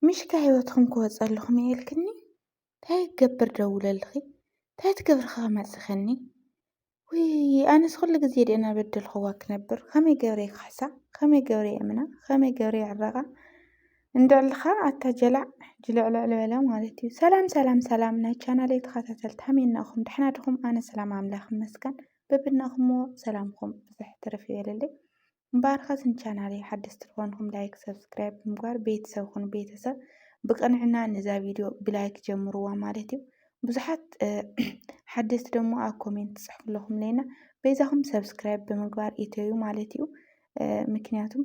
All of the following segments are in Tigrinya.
ምሽ ካብ ሂወትኩም ክወጽእ ኣለኹም እየ ኢልክኒ እንታይ ክገብር ደውለልኺ እንታይ ትገብሪ ክመጽኸኒ ውይ ኣነስ ኩሉ ግዜ ድየ እናበደልኽዋ ክነብር ከመይ ገብረ ክሕሳ ከመይ ገብረ የምና ከመይ ገብረ ይዕረቓ እንድዕልኻ ኣታ ጀላዕ ጅልዕልዕል በለ ማለት እዩ ሰላም ሰላም ሰላም ናይ ቻናለይ ተኸታተልቲ ሃመይናኹም ድሕና ድኹም ኣነ ሰላም ኣምላኽ ይመስገን በብናኹምዎ ሰላምኩም ብዝሕ ትርፍ ይበለለይ እምበኣርከስ ንቻናለይ ሓደስቲ ዝኾንኩም ላይክ ሰብስክራይብ ብምግባር ቤተሰብ ኩኑ ቤተሰብ ብቅንዕና ንዛ ቪድዮ ብላይክ ጀምርዋ ማለት እዩ ብዙሓት ሓደስቲ ደሞ ኣብ ኮሜንት ትጽሕፉ ኣለኹም ለና በይዛኹም ሰብስክራይብ ብምግባር ኢተዩ ማለት እዩ ምክንያቱም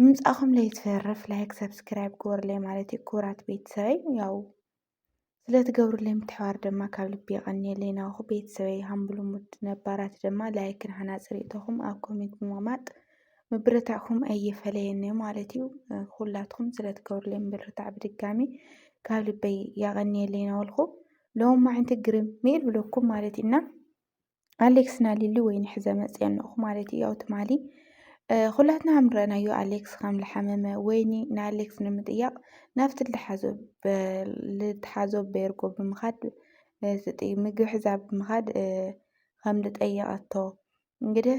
ምምጻእኹም ለይትፈርፍ ላይክ ሰብስክራይብ ግበሩለይ ማለት እዩ ክቡራት ቤተሰበይ ያው ስለትገብሩለይ ምትሕባር ድማ ካብ ልቢ የቀንየለይ ናውኹ ቤተሰበይ ሃምብሉሙድ ነባራት ድማ ላይክን ሃናጽ ርእቶኹም ኣብ ኮሜንት ብምቕማጥ ምብርታዕኩም ኣይፈለየኒ ማለት እዩ ኩላትኩም ስለትገብሩለይ ምብርታዕ ብድጋሚ ካብ ልበይ ያቀንየለይ ናውልኹ ሎም ማዕንቲ ግርም ሜል ብለኩም ማለት እና ኣሌክስ ና ሊሊ ወይኒ ሕዘ መፅየን ንኹ ማለት እዩ ያው ትማሊ ኩላትና ከም ረኣናዮ ኣሌክስ ከም ዝሓመመ ወይኒ ንኣሌክስ ንምጥያቕ ናብቲ ልትሓዞ ቤርጎ ብምኻድ ዝጥ ምግቢ ሕዛ ብምኻድ ከም ዝጠየቐቶ እንግዲህ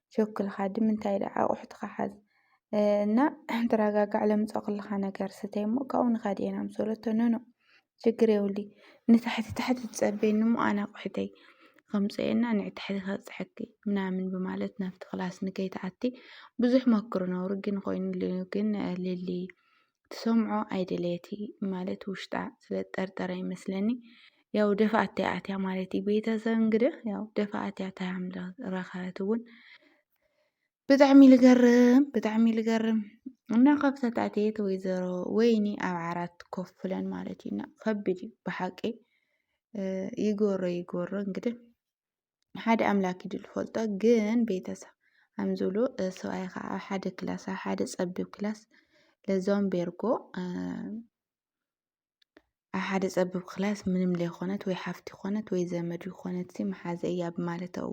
ቸኩልኻ ድምንታይ ኢለ ኣቑሑትኻ ሓዝ እና ተረጋጋዕ ለምፀኹልኻ ነገር ስተይ እሞ ካብኡ ንኸድ ኢና ምስ በለቶ ኖኖ ችግር የብሉይ ንታሕቲ ታሕቲ ትፀበይኒ እሞ ኣነ ኣቑሑተይ ከምፅኦ እና ንዕ ታሕቲ ከብፀሐኪ ምናምን ብማለት ናብቲ ክላስ ንከይትኣቲ ብዙሕ መክሩ ነብሩ ግን ኮይኑሉ ግን ሊሊ ትሰምዖ ኣይደለየቲ ማለት ውሽጣ ስለ ጠርጠረ ይመስለኒ ያው ደፋኣት ኣትያ ማለት እዩ ቤተሰብ እንግዲህ ያው ደፋኣት እያ ታያም ረኸበት እውን ብጣዕሚ ልገርም ብጣዕሚ ልገርም እና ከብተት ኣትየት ወይዘሮ ወይኒ ኣብ ዓራት ኮፍ ብለን ማለት እዩና ከቢድ እዩ ብሓቂ ይጎሮ ይጎሮ እንግዲህ ሓደ ኣምላክ እዩ ዝፈልጦ ግን ቤተሰብ ኣምዝብሉ ሰብኣይ ከዓ ኣብ ሓደ ክላስ ኣብ ሓደ ፀቢብ ክላስ ለዞም ቤርጎ ኣብ ሓደ ፀቢብ ክላስ ምንም ዘይኮነት ወይ ሓፍቲ ኮነት ወይ ዘመድ ይኮነት መሓዘ እያ ብማለተው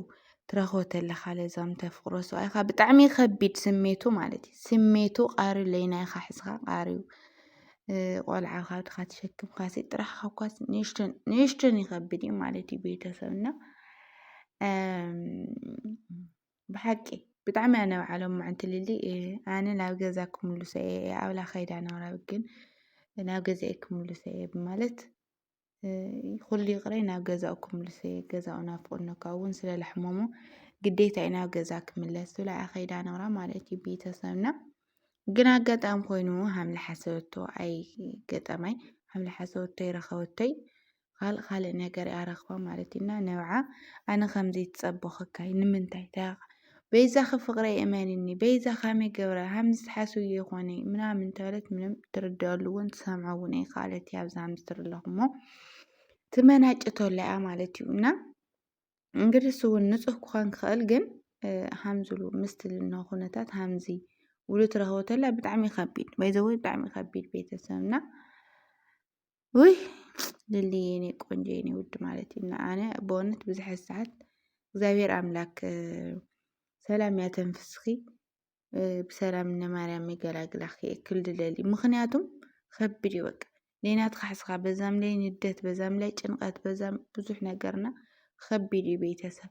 ትረኽቦ ተለካ ለዞም ተፍቅሮ ሰብኣይካ ብጣዕሚ ከቢድ ስሜቱ ማለት እዩ ስሜቱ ቃሪ ለይናይካ ሕዝካ ቃሪዩ ቆልዓ ካብድካ ተሸክምካሲ ጥራሕ ካብኳስ ንእሽቶን ይኸብድ እዩ ማለት እዩ ቤተሰብ እና ብሓቂ ብጣዕሚ እያ ነብዓሎም ምዕንቲ ልሊ ኣነ ናብ ገዛ ክምልሶ እየ ኣብላ ከይዳ ናብራ ግን ናብ ገዛ ክምልሶ እየ ብማለት ኩሉ ይቕረይ ናብ ገዛኡ ክምልሱ እየ ገዛኡ ናፍቑኒ እኳ እውን ስለ ለሕመሙ ግዴታ እዩ ናብ ገዛ ክምለስ ዝብላ እያ ከይዳ ነብራ ማለት እዩ ቤተሰብና ግን ኣጋጣሚ ኮይኑ ሃምለ ሓሰበቶ ኣይ ገጠማይ ሃምለ ሓሰበቶ ይረኸበቶይ ካልእ ካልእ ነገር እያ ረኽባ ማለት እዩና ነብዓ ኣነ ከምዘይትፀበኸካይ ንምንታይ በይዛኺ ፍቅረይ እመንኒ በይዛ ካመይ ገብረ ሃምዚ ትሓስብዮ ይኾነ ምናምን እንተበለት ምንም ትርድኣሉ እውን ትሰምዖ እውን ኣይከኣለት እያ ኣብዚ ሃምዚ ትርኢ ኣለኹሞ ትመናጭተላ እያ ማለት እዩ እና እንግዲህ እሱ እውን ንፁህ ክኾን ክኽእል ግን ሃምዝሉ ምስቲ ዝነ ኩነታት ሃምዚ ውሉ ትረኽቦ ተላ ብጣዕሚ ከቢድ ባይዘወይ ብጣዕሚ ከቢድ ቤተሰብና ውይ ልሊ የኔ ቆንጆ የኔ ውድ ማለት እዩ እና ኣነ በእውነት ብዙሕ ሰዓት እግዚኣብሔር ኣምላክ ሰላም ያተንፍስኺ ብሰላም እነ ማርያም ይገላግላኺ የክል ድለሊ ምክንያቱም ከብድ እዩ በቃ ሌናት ካሕስኻ በዛም ላይ ንደት በዛም ላይ ጭንቀት በዛም ብዙሕ ነገርና ከቢድ እዩ ቤተሰብ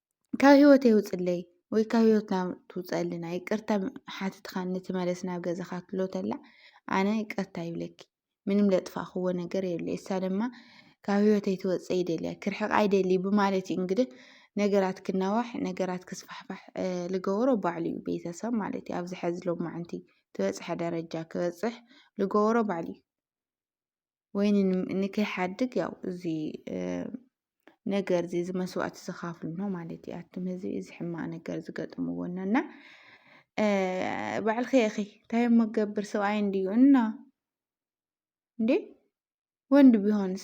ካብ ህይወት የውፅለይ ወይ ካብ ህይወትና ትውፀልና ይቅርታ ሓትትካ ንትመለስ ናብ ገዛካ ትሎ ተላ ኣነ ይቅርታ ይብለኪ ምንም ለጥፋክዎ ነገር የብለ እሳ ድማ ካብ ህይወት ኣይትወፀ ይደልያ ክርሕቃ ይደሊ ብማለት እዩ እንግዲህ ነገራት ክናዋሕ ነገራት ክስፋሕፋሕ ልገበሮ ባዕሉ እዩ ቤተሰብ ማለት እዩ ኣብዚ ሕዚ ሎማዓንቲ ትበፅሐ ደረጃ ክበፅሕ ልገበሮ ባዕሉ እዩ ወይኒ ንከይሓድግ ያው እዚ ነገር እዚ እዚ መስዋእቲ ዝካፍሉ ነው ማለት እዩ ኣቱም ህዝቢ እዚ ሕማቅ ነገር ዝገጥምዎ እና እና ባዕልኺ ኢኺ እንታይ መገብር ሰብኣይ እንድዩ እና እንዴ ወንድ ቢሆንስ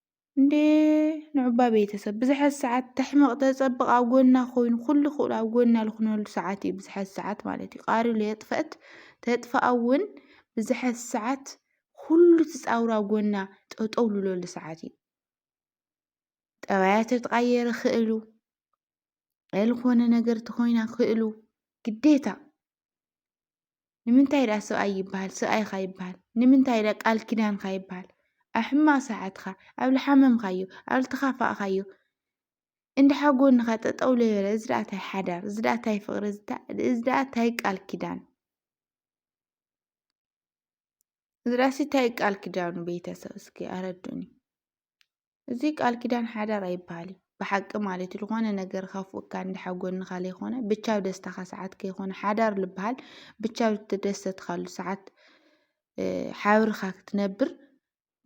እንዴ ንዑባ ቤተሰብ ብዝሐት ሰዓት ተሕመቕ ተጸብቕ ኣብ ጎና ኮይኑ ኩሉ ክእሉ ኣብ ጎና ልኹነሉ ሰዓት እዩ ብዝሐት ሰዓት ማለት እዩ ቃሪ ለየጥፈእት ተጥፋኣ እውን ብዝሐት ሰዓት ኩሉ ትጻውሩ ኣብ ጎና ጠጠው ልለሉ ሰዓት እዩ ጠባያ ተትቓየረ ክእሉ ዝኾነ ነገር ተኾይና ክእሉ ግዴታ ንምንታይ ደኣ ሰብኣይ ይብሃል ሰብኣይካ ይብሃል ንምንታይ ደኣ ቃል ኪዳንካ ይብሃል ኣብ ሕማቅ ሰዓትካ ኣብ ልሓመምካዮ ኣብ ልተካፋእካዮ እንድሓ ጎንካ ጠጠው ለይበለ እዚ ደኣ ታይ ሓዳር እዚ ደኣ ታይ ፍቅሪ እዚ ደኣ ታይ ቃል ኪዳን እዚ ደኣሲ ታይ ቃል ኪዳን እዩ ቤተሰብ እስኪ ኣረድኡኒ። እዚ ቃል ኪዳን ሓዳር ኣይበሃል እዩ ብሓቂ ማለት እዩ ዝኾነ ነገር ካፉ እካ እንድሓ ጎንኻ ለይኮነ ብቻብ ደስታኻ ሰዓት ከይኮነ ሓዳር ልበሃል ብቻብ ዝተደሰትካሉ ሰዓት ሓብርኻ ክትነብር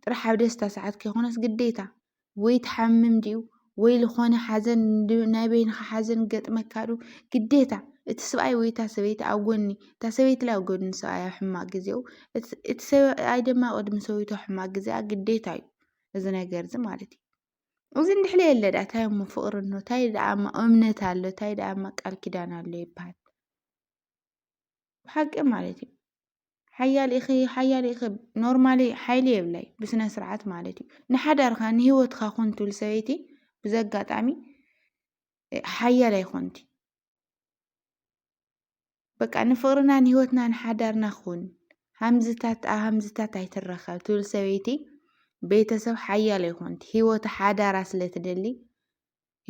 ጥራሕ ኣብ ደስታ ሰዓት ከይኮነስ ግዴታ ወይ ትሓምም ድዩ ወይ ልኾነ ሓዘን ናይ በይንኻ ሓዘን ገጥመካዱ ግዴታ እቲ ስብኣይ ወይ እታ ሰበይቲ ኣብ ጎኒ እታ ሰበይቲ ላይ ኣብ ጎኒ ሰብኣይ ኣብ ሕማቅ ግዜኡ እቲ ሰብኣይ ድማ ቅድሚ ሰበይቱ ኣብ ሕማቅ ግዜኣ ግዴታ እዩ እዚ ነገር እዚ ማለት እዩ እዚ እንድሕለ የለ ዳኣ ታይ እሞ ፍቅሪ እኖ ታይ ዳኣ እሞ እምነት ኣሎ ታይ ዳኣ እሞ ቃል ኪዳን ኣሎ ይበሃል ብሓቂ ማለት እዩ ሓያል ኢኺ ሓያል ኢኺ ኖርማሊ ሓይሊ የብላይ ብስነ ስርዓት ማለት እዩ ንሓዳርካ ንሂወትካ ኩን ትብል ሰበይቲ ብዘጋጣሚ ሓያል ኣይኮንቲ በቃ ንፍቕርናን ህይወትናን ሓዳርና ኹን ሃምዝታት ኣብ ሃምዝታት ኣይትረኸብ ትብል ሰበይቲ ቤተሰብ ሓያል ኣይኮንት ህይወት ሓዳራ ስለ ትደሊ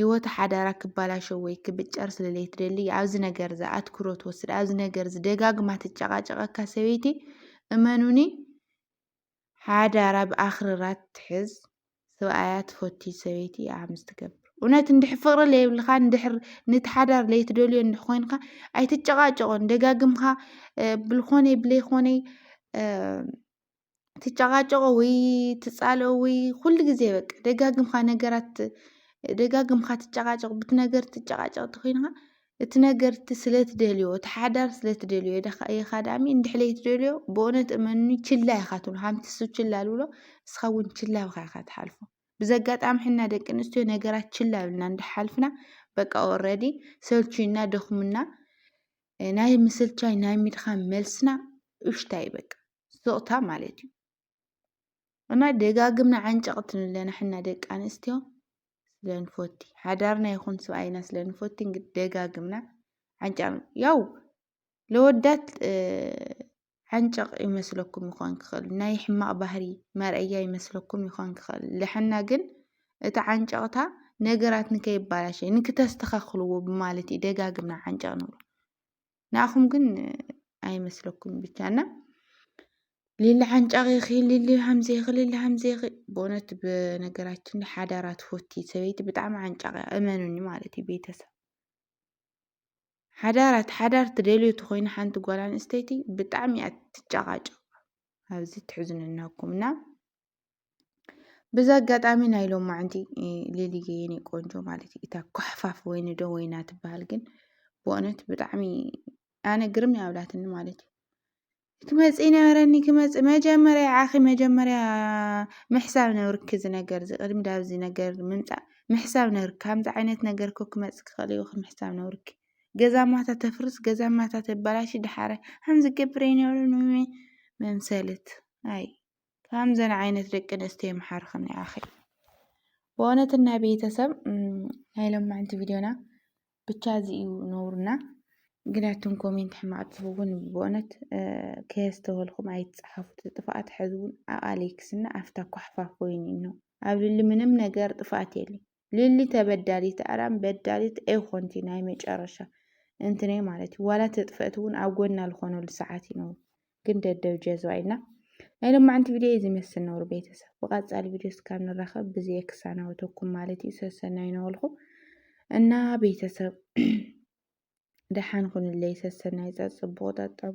ህይወት ሓዳራ ክባላሸ ወይ ክብጨር ስለ ዘይትደሊ ኣብዚ ነገር እዚ ኣትኩሮ ትወስድ ኣብዚ ነገር እዚ ደጋግማ ትጨቃጨቀካ ሰበይቲ እመኑኒ ሓዳራ ብኣኽርራት ትሕዝ ስብኣያ ትፈቲ ሰበይቲ ኢያ ሓምስ ትገብር እውነት እንድሕ ፍቕሪ ለየብልካ እንድሕር ንቲ ሓዳር ለይትደልዮ እንድሕ ኮይንካ ኣይትጨቓጨቖን ደጋግምካ ብልኾነይ ብለይኾነይ ትጨቓጨቖ ወይ ትጻልኦ ወይ ኩሉ ግዜ በቃ ደጋግምካ ነገራት ደጋግምካ ትጨቓጨቕ ብቲ ነገር ትጨቓጨቕ እንተኮይንካ እቲ ነገር እቲ ስለ ትደልዮ እቲ ሓዳር ስለ ትደልዮ ኢኻ ዳኣሚ እንድሕር ዘይትደልዮ ብእውነት እመኑኒ ችላ ኢኻ ትብሎ ሓንቲ ሰብ ችላ ትብሎ ንስኻ እውን ችላ ኢልካ ኢኻ ትሓልፎ ብዚ ኣጋጣሚ ሕና ደቂ ኣንስትዮ ነገራት ችላ ኢልና እንዳሓልፍና በቃ ኦልሬዲ ሰልችዩና ደኽሙና ናይ ምስልቻይ ናይ ምድኻም መልስና እሽታ እዩ በቃ ስቕታ ማለት እዩ እና ደጋግምና ዓንጨቕት ንብለን ኣሕና ደቂ ኣንስትዮ ስለንፎቲ ሓዳርና ይኹን ስብኣይና ስለንፎቲ እንግዲህ ደጋግምና ዓንጨቕ ያው ለወዳት ዓንጨቕ ይመስለኩም ይኾን ክኽእል ናይ ሕማቕ ባህሪ መርኣያ ይመስለኩም ይኾን ክኽእል ልሕና ግን እቲ ዓንጨቕታ ነገራት ንከይባላሸ ንክተስተኻኽልዎ ብማለት እዩ ደጋግምና ዓንጨቕ ንብሎ ንኣኹም ግን ኣይመስለኩም ብቻና ሊሊ ሓንጫቂኺ ሊሊ ሃምዜኺ ሊሊ ሃምዜኺ ብእውነት ብነገራችን ሓዳራ ትፈቲ ሰበይቲ ብጣዕሚ ዓንጫቂ እመኑኒ ማለት እዩ ቤተሰብ ሓዳራት ሓዳር ትደልዩ ትኮይኑ ሓንቲ ጓል ኣንስተይቲ ብጣዕሚ እያ ትጨቃጨቅ ኣብዚ ትሕዝኑ እናኩም እና ብዚ ኣጋጣሚ ናይ ሎማዓንቲ ሊሊየ የኔ ቆንጆ ማለት እዩ እታ ኳሕፋፍ ወይኒ ዶ ወይና ትበሃል ግን ብእውነት ብጣዕሚ ኣነ ግርም ኣብላትኒ ማለት እዩ ክመፅ ነበረኒ ክመፅ መጀመርያ ዓኺ መጀመርያ ምሕሳብ ነብርኪ እዚ ነገር እዚ ቅድሚ ዳብዚ ነገር ምምፃእ ምሕሳብ ነብርኪ ከምዚ ዓይነት ነገር ኮ ክመፅ ክኽእል እዩ ምሕሳብ ነብርኪ ገዛ ማታ ተፍርስ ገዛ ማታ ተበላሽ ድሓረ ከምዚ ገብረ ይነብረ መምሰልት ኣይ ከምዘን ዓይነት ደቂ ኣንስትዮ ይምሓርክን ይኣኺ ብእውነት ናይ ቤተሰብ ናይ ሎማዕንቲ ቪድዮና ብቻ እዚ እዩ ነውርና ግናቱን ኮሜንት ሕማቅ ትኸውን ብእውነት ከየስተወልኩም ኣይትፅሓፉት ጥፋኣት ሕዝውን ኣቃሊክስና ኣፍታ ኳሕፋ ኮይኑ ነው ኣብ ልሊ ምንም ነገር ጥፋኣት የለይ ሊሊ ተበዳሊት ኣራም በዳሊት ኣይኮንቲ ናይ መጨረሻ እንትነ ማለት እዩ ዋላ ተጥፈእት እውን ኣብ ጎና ልኾነሉ ሰዓት እዩ ነሩ ግን ደደብ ጀዝባ ኢልና ናይ ሎማዕንቲ ቪድዮ እዩ ዝመስል ነሩ ቤተሰብ ብቐፃሊ ቪድዮ እስካብ ንራኸብ ብዘየ ክሳናወተኩም ማለት እዩ ሰሰናይ ነበልኩ እና ቤተሰብ ደሓን ኩንለይ ሰሰናይ ፀፅቡቑ ጠጠቡ